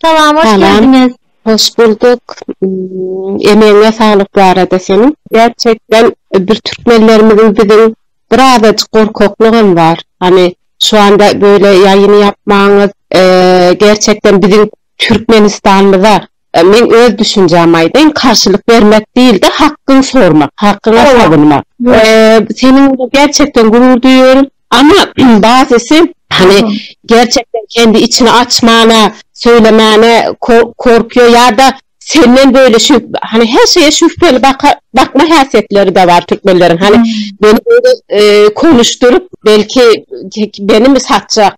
Salam hoş geldiňiz. Hoş bulduk. Emegiňe saglyk bu arada seniň. Gerçekden bir türkmenlerimiziň biziň bir azajyk gorkaklygam bar. Hany şu anda böyle ýaýyny ýapmaňyz gerçekden biziň türkmenistanymyza Men öz düşünjämi aýdaýyn, karşylyk bermek diýilde hakgyňy sormak, hakgyňa sogynmak. Seniň bilen gerçekden gurur duýýaryn, amma basysy hany gerçekden kendi içini açmana, söylemane korkýar ýa-da senden böyle şu hany her şeye şübheli bakma häsiýetleri de bar türkmenleriň hany meni böyle konuşdyryp belki meni mi satjak.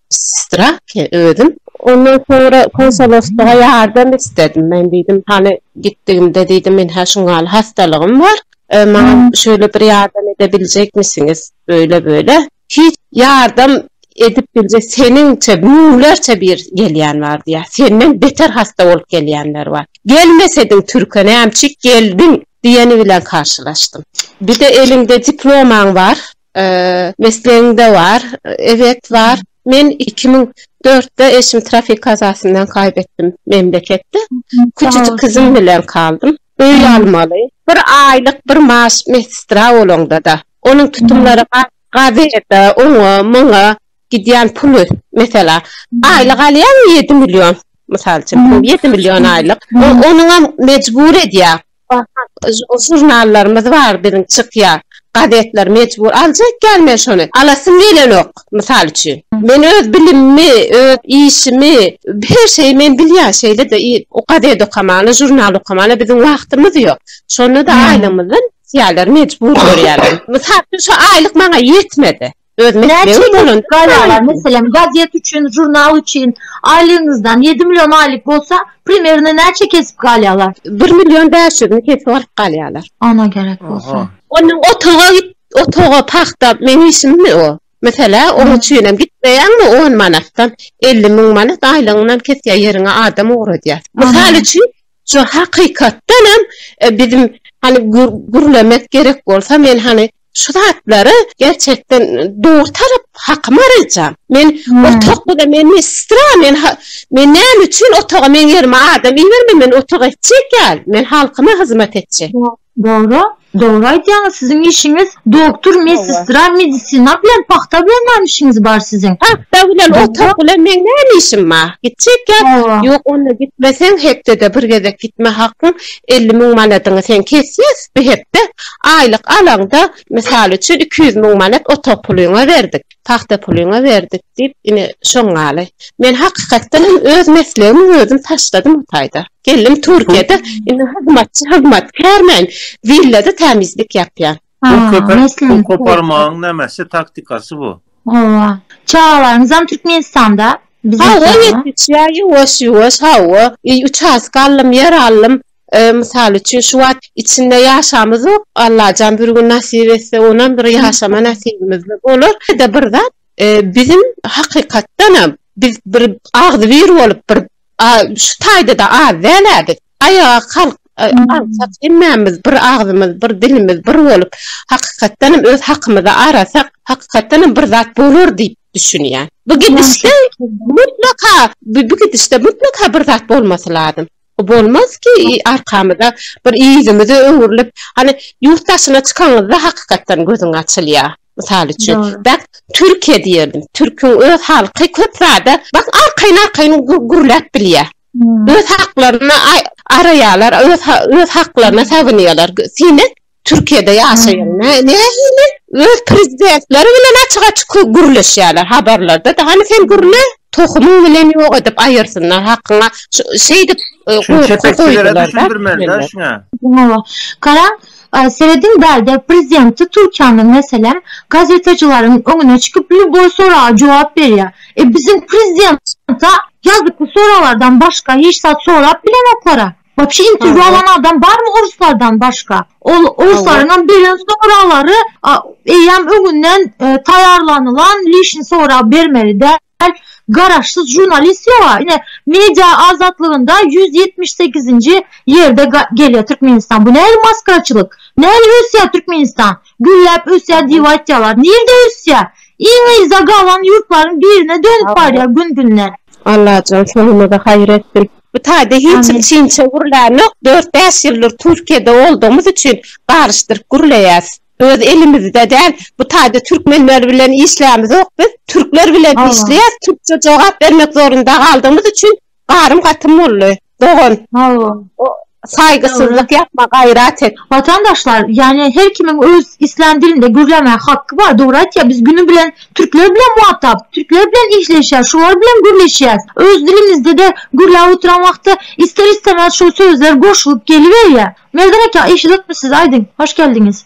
Strahke özüm. Ondan soňra konsoloslyga ýardam isledim. Men diýdim, hany gitdigimde diýdim, men hä şuň ýaly hastalygym bar. Maňa şeýle bir ýardam ede biljekmisiňiz? Beýle-beýle. Hiç ýardam edip biljek seniňçe müňlerçe bir gelýän bar diýýär. Senden beter hasta bolup gelýänler bar. Gelmesediň türke nämçik geldiň? diýeni bilen karşylaşdym. Bir-de eliňde diplomaň bar. Meslegiňde bar. Eget bar. Men iki müň dörtde eşim trafik kazasyndan kaýbetdim memleketde. Küçüjik gyzym bilen kaldym. Öý almaly. Bir aýlyk bir maaş medstra bolaňda-da, onuň tutumlary gazete, oňa, muňa gidýän puly, mesela, aýlyk alýaň ýedi million, mysal üçin, ýedi million aýlyk, onuňam mejbur edýär. Žurnallarymyz bar biziň çykýar. Gazetler mejbur aljak ýaly men şony. Alasym gelenok, mysal üçin. Men öz bilimimi, öz işimi, her şeýi men bilýän. Şeýle-de gazet okamana, žurnal okamana biziň wagtymyz ýok. Şonda-da aýlygymyzdan kysýarlar, mejbur görýärler. Mysal üçin, şu aýlyk maňa ýetmedi. Öz meslegim bolan gaýalar, meselem, gazet üçin, žurnal üçin aýlygyňyzdan ýedi million aýlyk bolsa, primerno näçe kesip galýalar? Bir million bäş ýüzüni kesip alyp galýalar. Ana gerek bolsa. Onda otaga git, otaga pagta meň işimmi o? Meselä, oň üçinem gitmeýäňmi on manatdan elli müň manat aýlygyňdan kesýär ýeriňe adam ugradýar. Mysal üçin, şu hakykatdanam biziň hany gürlemek gerek bolsa men hany, Şu zatlary gerçekden dogry tarap hakyma araýjam. Men otagda-da men mistra, men men näme üçin otaga meň ýerime adam iberme, men otaga etjek ýaly, men halkyma hyzmat etjek. Dogry, dogry aýdýaňyz, siziň işiňiz doktor, mistra, medisina bilen, pagta bilen näme işiňiz bar siziň? Pagta bilen, otag bilen meň näme işim bar? Gitjek ýa, ýok onda gitmeseň hepdede bir gezek gitme hakyň elli müň manadyňy sen kesýäs. Bu hepde aýlyk alaňda, mysal üçin, iki ýüz müň manat otag pulyňa berdik, pagta pulyňa berdik diýip, ine, şoň ýaly. Men hakykatdan hem öz meslegimi özüm taşladym o taýda. Geldim Türkiýede, indi hyzmatçy, hyzmatkärmen, willada tämizlik ýapýan. Pul köpe, pul koparmagyň nämeşe taktikasy bu? Hawa. Çagalaryňyzam Türkmenistanda? Hawa, ýetişýär ýuwaş-ýuwaş, hawa. Uçastka aldym, ýer aldym. Mysal üçin şu wagt içinde ýaşamyzok, Allajan bir gün nasip etse onam bir ýaşama nasibimizde bolar. Ýa-da bir zat biziň hakykatdanam biz bir agzybir bolup bir şu taýda-da az däl-ä biz. Aýaga kalk alsak hemmämiz bir agzymyz bir dilimiz bir bolup hakykatdanam öz hakymyzy arasak hakykatdanam bir zat bolar diýip düşünýän. Bu gidişde mutlaka bu gidişde mutlaka bir zat bolmasy lazym. Bolmaz ki arkamyza bir ýüzümize öwrülip hany ýurt daşyna çykanyňyzda hakykatdan gözüň açylýa. Mysal üçin bak Türkiýe diýerdim. Türküň öz halky köp zada bak arkaýyn arkaýyn gürläp bilýä. Öz haklaryny araýalar öz haklaryna sagynýalar. Siňe Türkiýede ýaşaýan nä nähili? Öz prezidentleri bilen açyk açyk gürleşýärler habarlarda da hany sen gürle tohumyň bilen ýok edip aýyrsynlar hakyňa şeýdip gorky goýdular da. Hawa garaň serediň bärde prezidenti Türkiýämiz meselem gazetecilaryň öňüne çykyp lýuboý soraga jogap berýär e biziň prezident ýazyk bu soraglardan başga hiç zat sorap bilenoklara Wapşe interwýu alan adam barmy oruslardan başga? Ol oruslaryňam beren soraglary eýýäm öňünden taýýarlanylan lişni sorag bermeli däl. Garaşsyz žurnalist ýoga. Ine media azatlygynda ýüz ýetmiş sekizinji ýerde gelýär Türkmenistan. Bu nähili maskaraçylyk? Nähili ösýär Türkmenistan? Gülläp ösýär diýip aýtýarlar. Nirde ösýär? Iň yza galan ýurtlaryň birine dönüp barýar gün-günden. Allajan sonuňyzy haýyr etsin. Bu taýda hiç hili çyn-çy gürlänok. Dört-bäş ýyldyr Türkiýede oldugymyz üçin garyşdyryp gürleýäs. Öz elimizde däl. Bu taýda türkmenler bilen işleýämizok biz. Türkler bilen işleýäs. Türkçe jogap bermek zorunda galdygymyz üçin garym-gatym boldy. Dogan. Hawa. saýgysyzlyk ýapma gaýrat et. Watandaşlar ýani her kimiň öz islän dilinde gürlämäge hakky bar dogry aýtýar biz güni bilen türkler bilen muhatap türkler bilen işleşýäs şular bilen gürleşýäs öz dilimizdede gürläp oturan wagtda ister istemez şul sözler goşulyp geliberýär Merdan aka eşidipmisiz aýdyň hoş geldiňiz.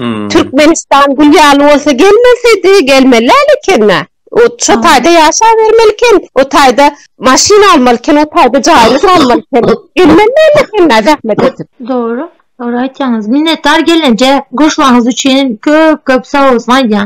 Hmm. Türkmenistan gül ýaly bolsa gelmesedi, gelmeli ekende. O şu taýda ýaşa bermeli eken. O taýda maşyn almaly eken, o taýda jaýyny salmaly eken. Gelmeli ekende zähmet edip. Dogry. Dogry aýtýaňyz. Minnetdar gelneje. Goşularyňyz üçin köp-köp sag bolsun aýdýan.